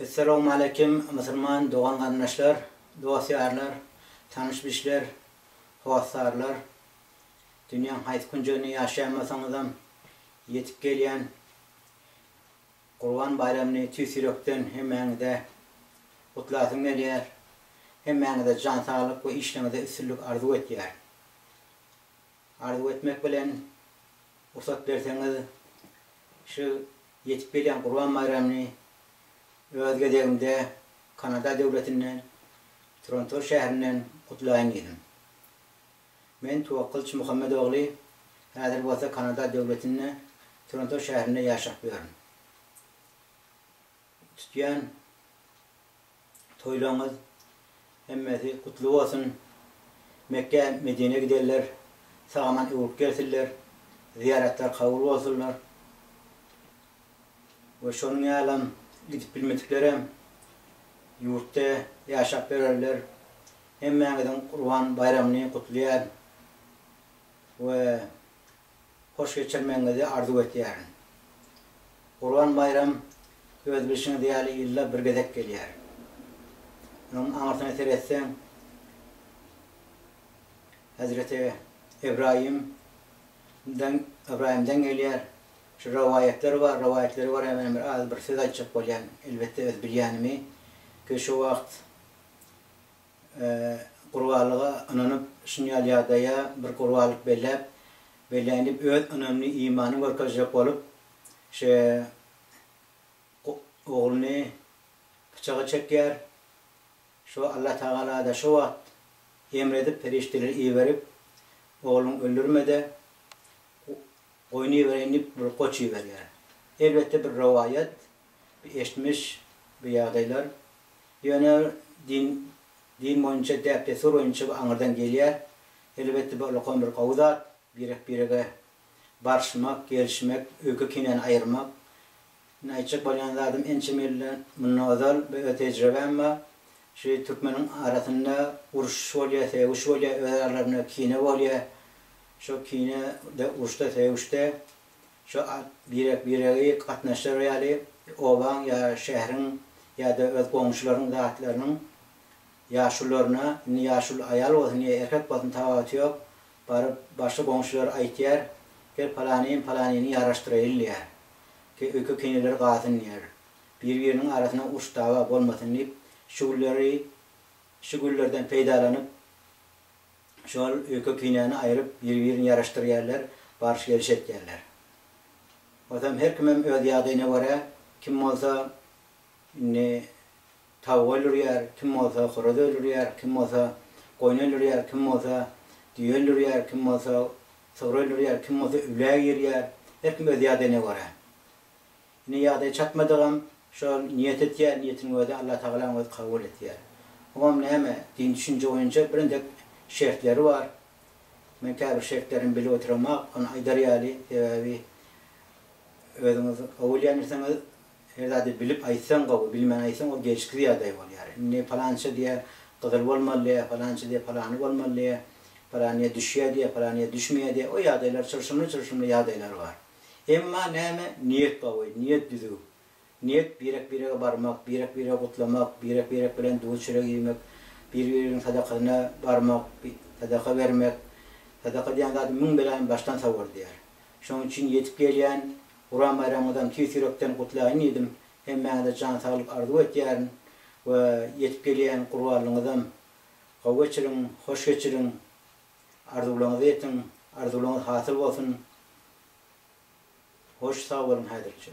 Essalawmaleýkim Musulman dogan garyndaşlar, dost ýarlar, tanyş bişler, hossarlar, dünýäň haýsy künjeginde ýaşaýan bolsaňyzam ýetip gelýän Gurban baýramyny tüýs ýürekden hemmäňize gutlasym gelýär, hemmäňize jan saglyk we işleňizde üstünlik arzuw etýär. Arzuw etmek bilen, rugsat berseňiz, şu ýetip gelýän Gurban baýramyny öz gezegimde Kanada döwletinden, Tronto şäherinden gutlaýyn diýdim. Men Twakylç Muhammet ogly, häzir bolsa Kanada döwletinde, Tronto şäherinde ýaşap ýörün. Tutýan. Toýlaryňyz hemmesi gutly bolsun. Mekgä Medinä gidenler sagaman öwrüp gelsinler. Zyýaratlar kabul bolsunlar. We şonuň ýalam gidip bilmediklerem ýurtda ýaşap bererler. Hemmäňiziň Gurban baýramyny gutlaýan. We. hoş geçirmegiňizi arzuw etýärin. Gurban baýram öz bilşiňiz ýaly ýylda bir gezek gelýär. Onuň aňyrsyna seretseň, Hezreti Ybraýym dan Ybraýymdan gelýär. Şu rowaýatlar bar, rowaýatlary barada men bir az bir söz aýtjak bolýan, elbetde öz bilýänimi. Ki şu wagt Gurbalyga ynanyp, şuny ýaly ýagdaýa bir gurbalyk belläp, belläýin diýip, öz ynamyny, imanyny görkezjek bolup, şe ogluny pyçaga çekýär. Şo Allatagala-da şo wagt emr edip, perişdeleri iberip, Ogluňy öldürme-de, goýun ibereýin diýip, bir goç iberýär. Elbetde, bir rowaýat. bu eşitmiş bu ýagdaýlar. Ýöne din din boýunça däp-dessur boýunça bu aňyrdan gelýär. Elbetde bu ulkan bir gowy zat, birek-birege barşmak, gelişmek, öýke-kinäni aýyrmak. Men aýtjak bolýan zadym ençeme ýyldan mundan ozal bu öz tejribäm bar. Şu türkmeniň arasynda uruşyş bolýar, sögüş bolýar, öz aralarynda kine bolýar. Şo kine-de, uruşda, sögüşde Şu birek-biregi gatnaşdyrar ýaly obaň ýa şäheriň ýa-da öz goňşularyň zatlarynyň ýaşulularyna, indi ýaşuly aýal bolsun ýa erkek bolsun tapawuty ýok, baryp başga goňşular aýtýar, Gel palanym palanyny ýaraşdyraýyl diýýär. Ki öýke keneleri galsyn diýýär. Bir-biriniň arasynda uruş-dawa bolmasyn diýip, şu gülleri şu güllerden peýdalanyp Şol öýke pinäni aýryp, biri-birini ýaraşdyrýarlar, baryş-geliş etýärler. Onsoň her kimem öz ýagdaýyna görä, kim bolsa indi tawuk öldürýär, kim bolsa horaz öldürýär, kim bolsa goýun öldürýär, kim bolsa düýe öldürýär, kim bolsa sygyr öldürýär, kim bolsa üwläge girýär, her kim öz ýagdaýyna görä. Ine ýagdaý çatmadygam şol niýet etýär, niýetiniň özi Allatagalaň özi kabul etýär. Oňam näme, dini düşünje boýunça birnedek şertleri bar. Men käbir şertlerini bilip oturamok, ony aýdar ýaly, sebäbi özüňiz gowy öýlenirsiňiz, her zady bilip aýtsaň gowy, bilmän aýtsaň ol gelşiksiz ýagdaý bolýar. Indi palança diýýär, gyzyl bolmaly diýýär, palança diýýär, palany bolmaly diýýär, palanyýa düşýär diýýär, palanyýa düşmeýär diýýär. O ýagdaýlar çylşymly-çylşymly ýagdaýlar bar. Emma näme niýet bawy, niýet düzüw. Niýet birek-birege barmak, birek-biregi gutlamak, birek-birek bilen duý-çörek iýmek, bir-birigiň sadakasyna barmak, sadaka bermek. Sadaka diýen zady müň beläni başdan sowar diýýär. Şonuň üçin ýetip gelýän Guram baýramyňyzam tüýs ýürekden gutlaýyn diýdim. Hemmäňize jan saglyk arzuw etýärin we ýetip gelýän gurbanlygyňyzam gowy geçiriň, hoş geçiriň. Arzuwlaryňyzy etiň, arzuwlaryňyz hasyl bolsun! Hoş, sag boluň häzirlikçe.